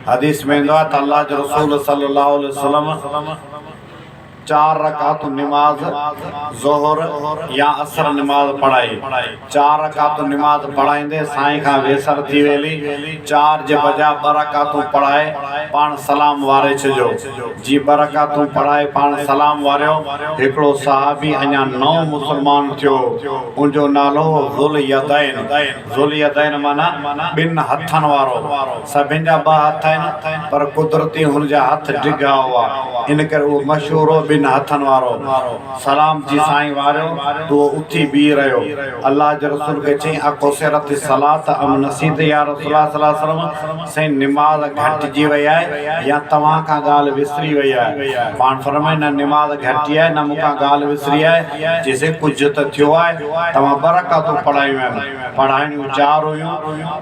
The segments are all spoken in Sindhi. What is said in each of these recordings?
حديث ۾ ايندو آهي ته الله جي رسول صلي الله عليه وسلم چار رڪعتون نماز ظهر يا عصر نماز پڙهائي. چار رڪعتون نماز پڙهائيندي سائين کان ويسر ٿي ويلي چار جي بجاء ٻه رڪعتون پڙهائي پاڻ سلام واري ڇڏيو. جي ٻه رڪعتون پڙهائي پاڻ سلام واريو. هڪڙو صحابي اڃا نئون مسلمان ٿيو هو. ان جو نالو هو ذوااليدين. ذوالیدين معنيٰ ٻن هٿن وارو، سڀن جا ٻه هٿ آهن، پر قدرت ئي هن جا هٿ ڊگها هئا، ان ڪري اهو مشهور هو ٻن هٿن وارو. سلام جي سائين واريو ته اهو اٿي بيهي رهيو. الله جي رسول کي چيائين اڪو سيرت الصلاة ام نسيت يا رسول الله صلي الله عليه وسلم؟ سائين نماز گهٽجي وئي آهي يا توهان کان ڳالهه وسري وئي آهي؟ پاڻ فرمائي نه نماز گهٽجي آهي نه مون کان ڳالهه وسري آهي چيسين ڪجهه ته ٿيو آهي توهان ٻه رڪعتون پڙهايون آهن پڙهائڻيون چار هيون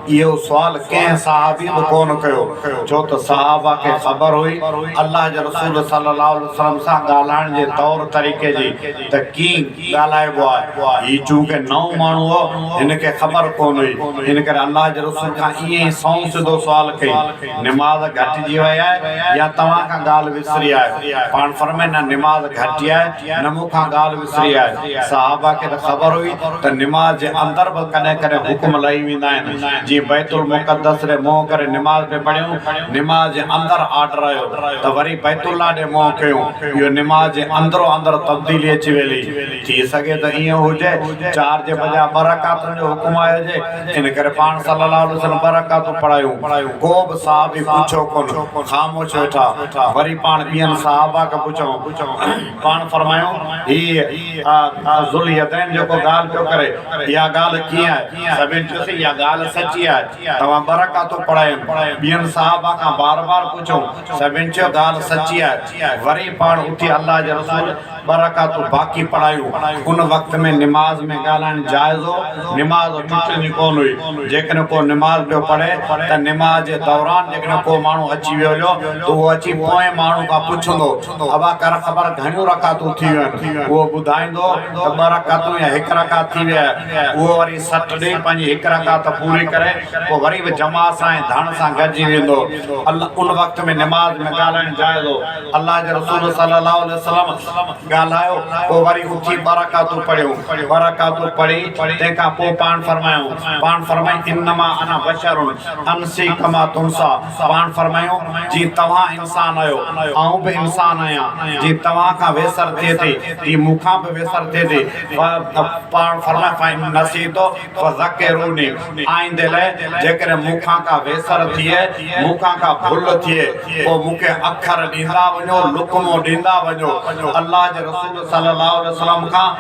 اهو سوال ڪنهن صحابي به ڪونه ڪيو ڇو ته صحابه کي خبر هئي الله جي رسول صلي الله عليه وسلم سان ڳالهائڻ جي طور طريقي جي ته ڪين ڳالهائبو آهي. هي چونڪه نئون ماڻهو هو، هن کي خبر ڪونه هئي، ان ڪري الله جي رسول کان ائين ئي سنئون سڌو سوال ڪيائين، نماز گهٽجي وئي آهي يا توهان کان ڳالهه وسري آهيو؟ پاڻ فرمائي، نه نماز گهٽي آهي، نه مون کان ڳالهه وسري آهي. صحابه کي ته خبر هئي ته نماز جي اندر به ڪڏهن ڪڏهن حڪم لهي ويندا آهن، جيئن بيت المقدس ڏي منهن ڪري نماز پئي پڙهيون، نماز جي اندر آرڊر آيو. ته وري بيت الله ڏي منهن ڪيون، اهو نماز جي اندرو اندر تبديلي اچي ويلي، ٿي سگهي ته ائين هجي، چار جي بجاء ٻه رڪعتن جو حڪم آيو هجي، ان ڪري پاڻ صلّي اللّٰه عليه وسلّم ٻه رڪعتون پڙهايون، ڪو به صحابي پڇيو ڪونه، خاموش ويٺا، وري پاڻ ٻين صحابه کي پڇيون، پاڻ فرمايون، هي ذوااليدين جيڪو ڳالهه پيو ڪري، اها ڳالهه ڪيئن آهي؟ سڀين چيوسين، اها ڳالهه سچي آهي، توهان ٻه رڪعتون پڙهايون. ٻين صحابه کان بار بار پڇيو. سڀن چيو ڳالهه سچي آهي. وري پاڻ اٿي الله جي رسول ٻه رڪعتون باقي پڙهايون. ان وقت ۾ نماز ۾ ڳالهائڻ جائز هو. نماز ٽٽندي ڪونه هئي. جيڪڏهن ڪو نماز پيو پڙهي ته نماز جي دوران جيڪڏهن ڪو ماڻهو اچي ويهي هليو ته اهو اچي پوئين ماڻهو کان پڇندو هو ابا ڪر خبر گهڻيون رڪعتون ٿي ويون آهن. اهو ٻڌائيندو هو ته ٻه رڪعتون يا هڪ رڪعت ٿي وئي آهي. اهو وري سٽ ڏئي پنهنجي هڪ رڪعت پوري ڪري پوء وري به جماعت سان ۽ ڌڻ سان گڏجي ويندو هو. ان وقت ۾ نماز ۾ ڳالهائڻ جائز هو. الله جي رسول صلّي اللّٰه عليه وسلّم ڳالهايو پوء وري اٿي ٻه رڪعتون پڙهيون. ٻه رڪعتون پڙهي تنهن کان پوء پاڻ فرمايائون. پاڻ فرمائي، انما انا بشر انسي ڪما تنسيٰ. سڀاڻ فرمايو، جي توهان انسان آهيو، آئون به انسان آهيان، جي توهان کان ويسر ٿئي ٿي، تي مون کان به ويسر ٿئي ٿي، سڀاڻ فرمايو، فإن نسيت فذڪروني، آئندي لاء جيڪڏهن مون کان ڪا ويسر ٿئي، مون کان ڪا ڀل ٿئي، پوء مون کي اکر ڏيندا وڃو، لقمو ڏيندا وڃو، الله جي رسول صلّي الله عليه وسلّم کان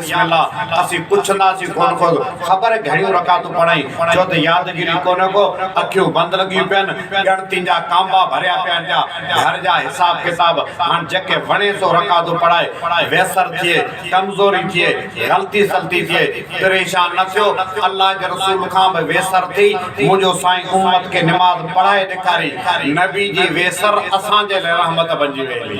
بسم الله اسين پڇنداسين ڪونه ڪو ته خبر گهڻيون رڪعتون پڙهين، ڇو ته يادگيري ڪونه ڪو، اکيون بند لڳيون پين، ڳڻتين جا ڪانبا ڀريا پيا آهن پيا، گهر جا حساب ڪتاب، هاڻ جيڪي وڻي سو رڪعتون پڙهائي، ويسر ٿئي، ڪمزوري ٿئي، غلطي سلطي ٿئي، پريشان نه ٿيو، الله جي رسول کان به ويسر ٿي، منهنجو سائين امت کي نماز پڙهائي ڏيکاري، نبي جي ويسر اسان جي لاء رحمت بنجي ويندي.